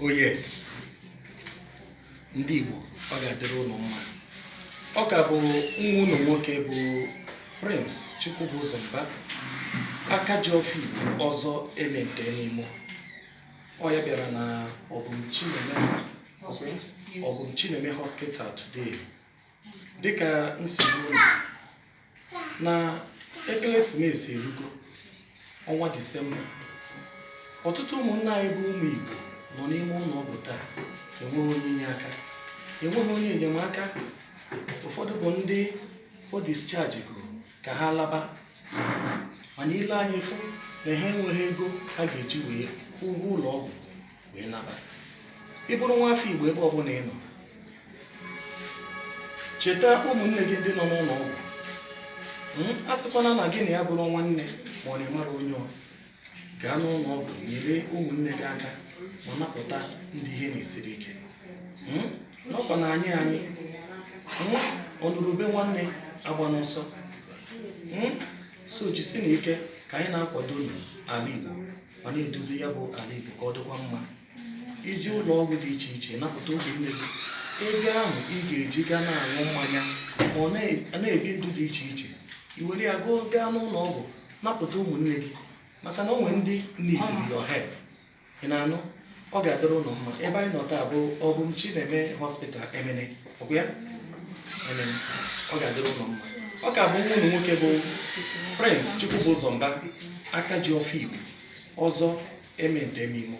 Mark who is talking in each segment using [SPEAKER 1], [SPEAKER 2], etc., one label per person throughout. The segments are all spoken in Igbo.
[SPEAKER 1] Oh, yes. ndị Igbo ọ ga-adịrị ụlọ mma ọ ka bụ nwa ụnụ nwoke bụ Prince Chukwubuzor Mba aka ji ọfọ Igbo ọzọ eme nke n'imo ọ ya bịara na Ọbụm Chineme Hospital today dịka m si gwa ụnụ na ekeresimesi erugo ọnwa disemba ọtụtụ ụmụnna anyị bụ ụmụ igbo nọ n'ime ụlọ ọgwụ taa enweghị onye inye aka enweghị onye enyemaka ụfọdụ bụ ndị o discharge goro ka ha laba mana ị lee anya ị fụ na ha enweghị ego ha ga-eji wee kwụọ ụgwọ ụlọ ọgwụ wee naba ị bụrụ nwa afọ igbo ebe ọbụla ị nọ cheta ụmụnne gị ndị nọ n'ụlọ ọgwụ hmm? a sịkwana na gị na ya bụrụ nwanne ma ọ na ị mara onye ọ gaa n'ụlọ ọgwụ nyere ụmụnne gị aka ma napụta ndị ihe na-esiri ike hmm? n'ọkwa na anyị anyị hmm? ọ nụrụ ube nwanne agbana ọsọ so jisinụ ike ka anyị na-akwadonụ ala Igbo ma na-edozi ya bụ ala Igbo ka ọ dịkwa mma ị jee ụlọ ọgwụ dị iche iche napụta ụmụnne gị ego ahụ ị ga-eji gaa na-aṅụ mmanya ma ọ na-ebi ndụ dị iche iche i were ya gaa gaa n'ụlọ ọgwụ napụta ụmụnne gị maka na o nwere ndị needịrị your help ị na-anụ ọ ga-adịrị ụnụ mma ebe anyị nọ taa bụ Ọbụm Chineme hospital Emene ọ bụ ya Emene ọ ga-adịrị ụnụ mma ọ ka bụ nwa ụnụ nwoke bụ Prince Chukwubụzọ Mba aka ji ọfọ Igbo ọzọ emente emimo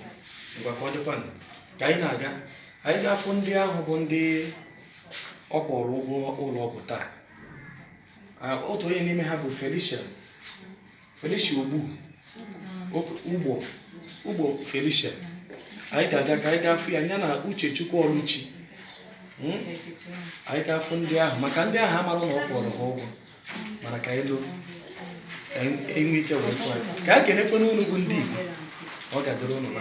[SPEAKER 1] ngwa ka ọ dịkwanụ ka anyị na-aga anyị ga-afụ ndị ahụ bụ ndị ọ kwụrụ ụgwọ ụlọ ọgwụ taa Ah, otu onye n'ime ha bụ Felicia Felicia Ogbu Ugbo Ugbo Felicia anyị ga-aga ka anyị gaa fụ ya ya na Uchechukwu Ọlụchi Hmm? anyị ga-afụ ndị ahụ maka ndị ahụ amara na ọ kwụụrụ ha ụgwọ mana ka anyị loo ka anyị enwe ike wee fụ anyị ka anyị kenekwa ụnụ bụ ndị Igbo ọ ga-adịrị ụnụ mma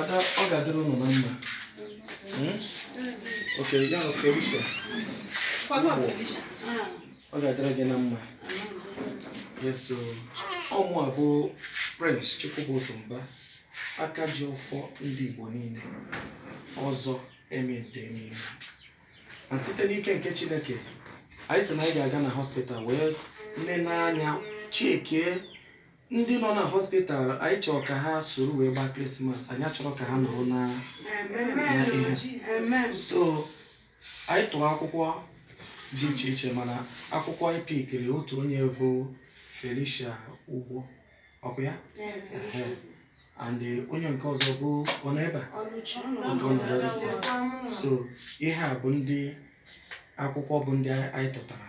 [SPEAKER 1] Ada, ọ ga-adịrị ụnụ na mma. Hmm? Ok, ya na Felicia. Ọ ga-adịrị gị na mma. Yes, so ọ mụwa bụ Prince Chukwubuzo Mba, aka ji ọfọ ndị Igbo niile, ọzọ Ementa Emeimo. And site n'ike nke Chineke, anyị sị na anyị ga-aga na hospital wee nene anya chekie Ndị nọ na hospital anyị chọrọ ka ha soro wee gbaa krismas anyị achọrọ ka ha nọrọ na na ihe so anyị tụrụ akwụkwọ dị iche iche mana akwụkwọ anyị pikiri otu onye bụ felicia ugbo ọkwa ya Ehe. and eh, onye nke ọzọ bụ ọ nọ ebe a Nke ọ nọ ebe a. so ihe a bụ ndị akwụkwọ bụ ndị anyị tụtara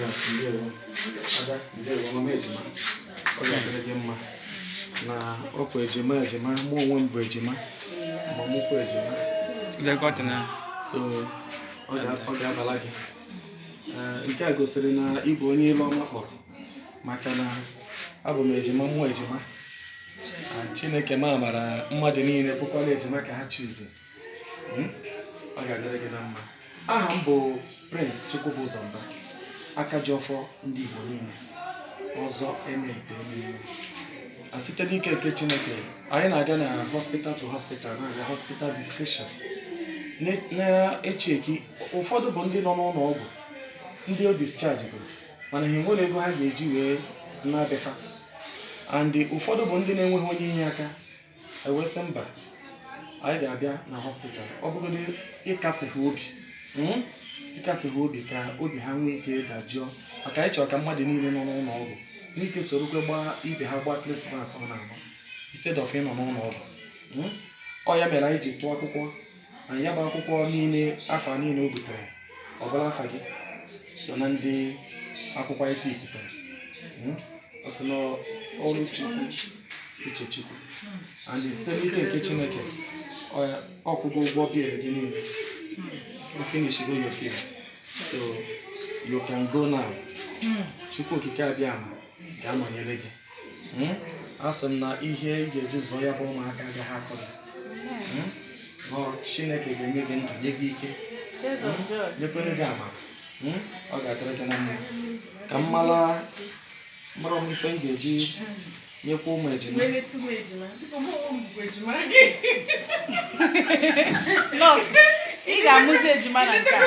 [SPEAKER 1] Ya, ndewo. Ada, ndewo, mama ejima. Ọ ga-adịrị gị mma. Na ọkwa ejima ejima, mụ onwe m bụ ejima. Ma mụkwa ejima. Lekọta na So, ọ ga- ọ ga-abala gị. Eh, Nke a gosiri na ị bụ onye ilu ọma kpọrọ. Maka na abụ m ejima, mụọ ejima. Ah, Chineke m amara mmadụ niile bụkwara ejima ka ha chuzi. Hmm? ọ ga-adịrị gị na mma aha m bụ Prince Chukwubụzọ Mba aka ji ọfọ ndị Igbo niile ọzọ Ementa Emeimo and site n'ike nke Chineke anyị na-aga na hospital to hospital na hospital visitation na- na-echeki ụfọdụ bụ ndị nọ n'ụlọ ọgwụ ndị e dischargeburu mana ha enwerọ ego ha ga-eji wee naa be fa and ụfọdụ bụ ndị na-enweghị onye inye aka e wee sị mba anyị ga-abịa na hospital ọ bụgodị ịkasi ha obi mm, ịkasi ha obi ka obi ha nwee ike dajụọ maka anyị chọrọ ka mmadụ niile nọ n'ụlọ ọgwụ nwee ike sorokwa gbaa ibe ha gbaa krismas ọ na-agba instead of ịnọ n'ụlọ ọgwụ mm. ọ ya mere anyị ji tụọ akwụkwọ and ya bụ akwụkwọ niile afa niile o butere ọ bụrụ afa gị so na ndị akwụkwọ anyị pikụtara Hmm? ọ sị na ọrụ chukwu uche chukwu and site n'ike nke chineke ọ ya- ọ kwụgo ụgwọ bill gị niile o finishigo your bill so you can go now chukwu okike abịama ga-anọnyere gị hmm? asị m na ihe ị ga-eji zụọ ya bụ ụmụaka agaghị akọ gị hmm? Chineke ga-enye gị ndụ nye gị ike hmm? nyekwa gị amara ọ ga-adịrị gị na mma ka m mara mara m ife m ga-eji nyekwa ụmụ
[SPEAKER 2] ejima nọọsụ ị ga-amụzi ejima na
[SPEAKER 1] nke a